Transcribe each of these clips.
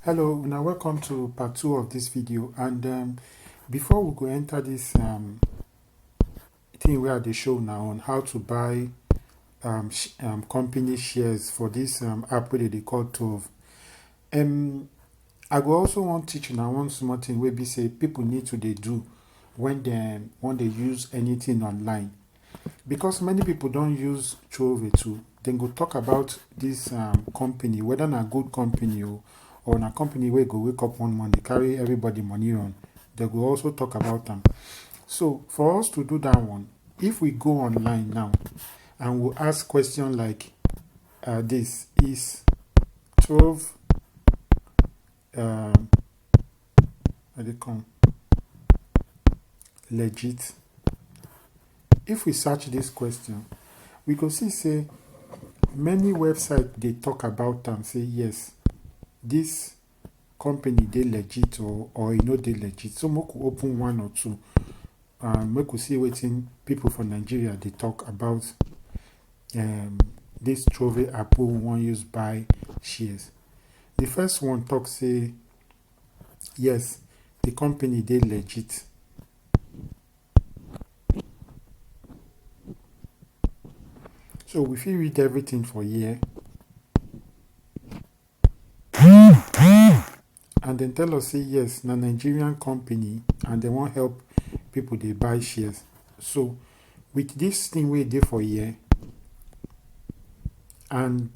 hello una welcome to part two of this video and um, before we go enter this um, thing where they show now on how to buy um, sh um, company shares for this um, app where they call Tove um, I go also want teach now one small thing where we say people need to they do when they when they use anything online because many people don't use Chove too, then go talk about this um, company, whether na good company or, or na company where go wake up one morning, carry everybody money on. They will also talk about them. So for us to do that one, if we go online now and we ask question like uh, this, is Chove um I dey come. Legit. If we search this question, we go see say many websites they talk about them. say yes, this company they legit or or you know they legit. So we could open one or two. Um, we could see waiting people from Nigeria they talk about um this trove apo we wan use buy shares. The first one talk say yes, the company dey legit. So we fit read everything for here. and dem tell us say yes na nigerian company and dem wan help people dey buy shares so with this thing wey dey for here and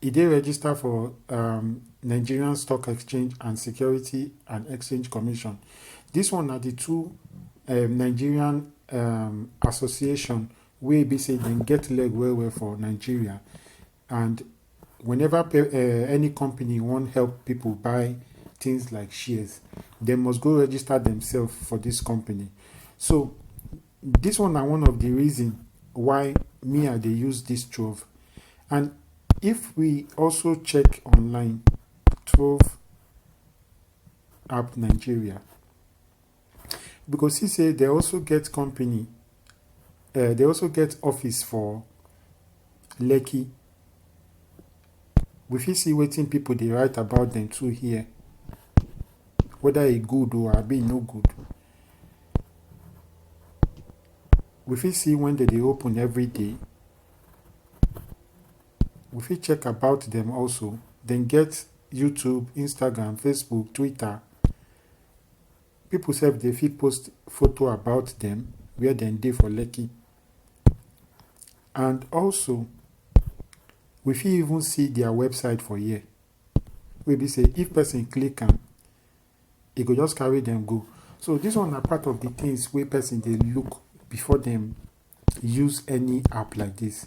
e dey register for um, nigerian stock exchange and security and exchange commission this one na the two um, nigerian um, association wey be say dem get leg well well for nigeria And whenever pe- uh, any company wan help people buy things like shares, they must go register themselves for this company. So this one na one of the reason why me I dey use this Trove. And if we also check online, Trove app Nigeria, we go see say they also get company uh, they also get office for lekki we fit see wetin people dey write about them too here whether e good or abi e no good we fit see when they dey open every day we fit check about them also dem get youtube instagram facebook twitter People sef dey fit post photo about them where dem dey for Lekki. And also, we fit even see their website for here. Wey be say if person click am, e go just carry them go. So this one na part of the things wey person dey look before dem use any app like this.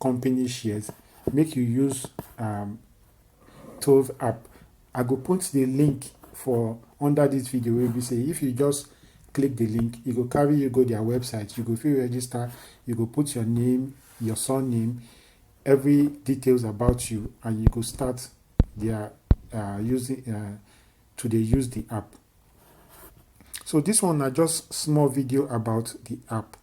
company shares make you use um, Tove app. I go put the link for under this video wey be say if you just click the link e go carry you go their website you go fit register you go put your name your surname every details about you and you go start their uh, using uh, to dey use the app so this one na just small video about the app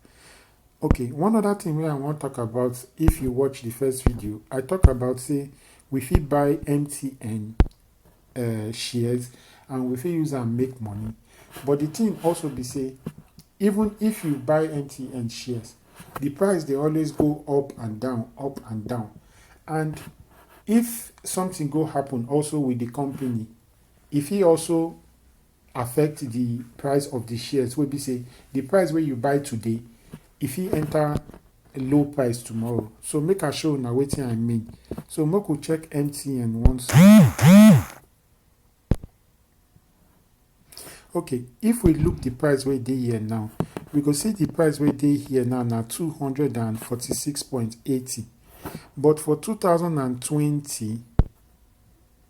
Okay, one other thing wey I wan talk about if you watch the first video, I talk about say we fit buy MTN uh, eh, shares and we fit use am make money. But the thing also be say even if you buy MTN shares, the price dey always go up and down, up and down. And if something go happen also with the company, if he also affect the price of the shares wey be say the price wey you buy today e fit enter low price tomorrow so make i show una wetin i mean so make we check mtn once okay if we look the price wey dey here now we go see the price wey dey here now na 246.80 but for 2020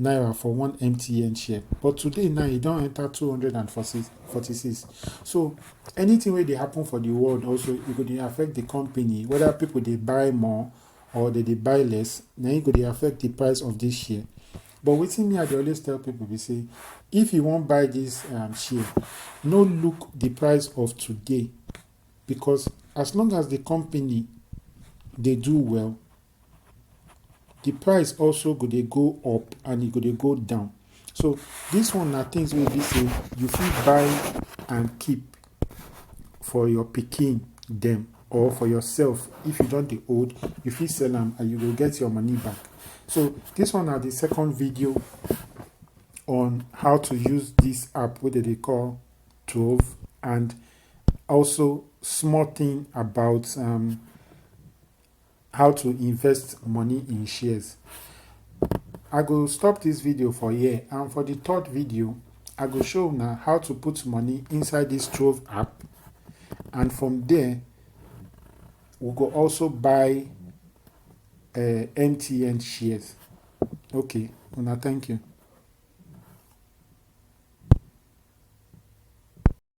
naira for one mtn share but today now e don enter 246 so anything wey dey happen for the world also e go dey affect the company whether people dey buy more or they dey buy less na e go dey affect the price of this share but wetin me i dey always tell people be say if you wan buy this um, share no look the price of today because as long as the company dey do well the price also go dey go up and e go dey go down so this one na things wey be say you fit buy and keep for your pikin dem or for yourself if you don dey old you fit sell am and you go get your money back so this one na the second video on how to use this app wey dem dey call Trove and also small thing about um, how to invest money in shares i go stop this video for here and for the third video i go show now how to put money inside this trove app and from there we go also buy uh, mtn shares okay una thank you